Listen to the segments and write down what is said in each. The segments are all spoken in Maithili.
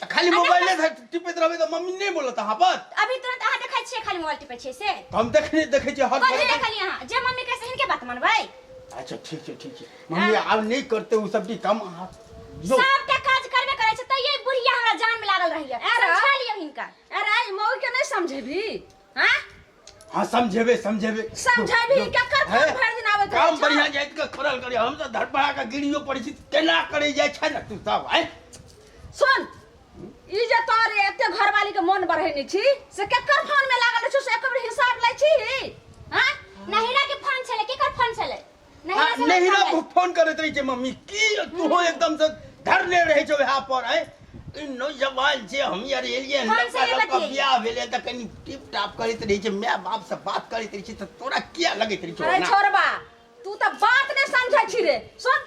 तऽ खाली मोबाइले धर टिपैत रहबै तऽ मम्मी नहि बोलत अहाँ पर अभी तुरंत अहाँ देखै छियै खाली मोबाइल टिपै छियै से तऽ हम देखने देखै छियै हर कथी देखली अहाँ जे मम्मी कहै से हिनके बात मानबै अच्छा ठीक छै ठीक छै मम्मी आब नहि करते ओ सब चीज काम अहाँ जो सबके काज करबे करै छै तैयो ई बुढ़िया हमरा जान में लागल रहैया अरे। समझा लियौ हिनका अरे ई मौगी के नहीं समझेबी हाँ हाँ समझेबे समझेबे समझेबे ककर काम भर दिन आवे काम बढ़िया जाइत के करल करे हम तो धड़पड़ा के गिरियो पड़े छी केना करे जाय छै ना तू सब है सुन ई जे तोर एते घरवाली के मन बढ़े नै छी से ककर फोन में लागल छी से एक बेर हिसाब लै छी हां नहिरा के फोन छले केकर फोन छले आ नैहरा से नैहरा लड़का पर फोन करैत रहै छै मम्मी की तू एकदम से धरले रहै छौ वएह पर है ई नौजवान जे हम यार एलियै हन, फोन से लड़का नहि लड़का बतियैया। बियाह भेलै तऽ कनि टिप टाप करैत रहै छै माय बाप से बात करैत रहै छै तऽ तोरा किया लगैत रहै छौ अरे ना? छोड़बा तू तऽ बात नहि समझै छी रे सुन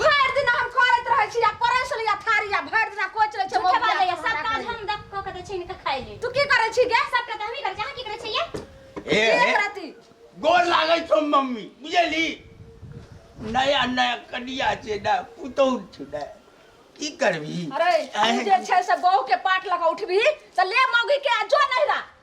भरि दिन हम करैत रहै छी आ पड़ै छलै आ थारी आ भरि दिन कोच रहै छै झूठे मोबाइल बात आ है सब हमरा काज करै। हम दक क के दै छै इनका खाइ ले तू की करै छी गे सब के हमही करै छै अहाँ की करै छै ये हे की हे करती गोर लागै छौ मम्मी बुझली नया नया कनिया छै ने पुतौह छै ने की करबही अरे तू जे छै से बहू के पाट लगा उठबी तऽ ले मौगी के आ जो नहिरा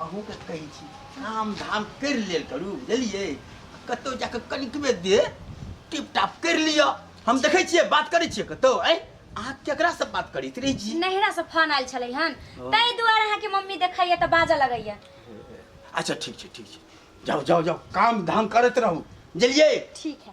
अहूँ के कहै छी काम धाम कर लेल करू बुझलिए कतौ जाके कनिकबे दे टिप टाप कर लियो हम देखै छियै बात करै छियै कतौ ऐ अहाँ केकरा से बात करैत रही जी नहिरा से फोन आयल छलै हन ताहि दुआरे अहाँ के मम्मी देखैया तऽ बाजऽ लगैया अच्छा ठीक छै ठीक छै जाओ जाओ जाओ काम धाम करत रहू बुझलिए ठीक है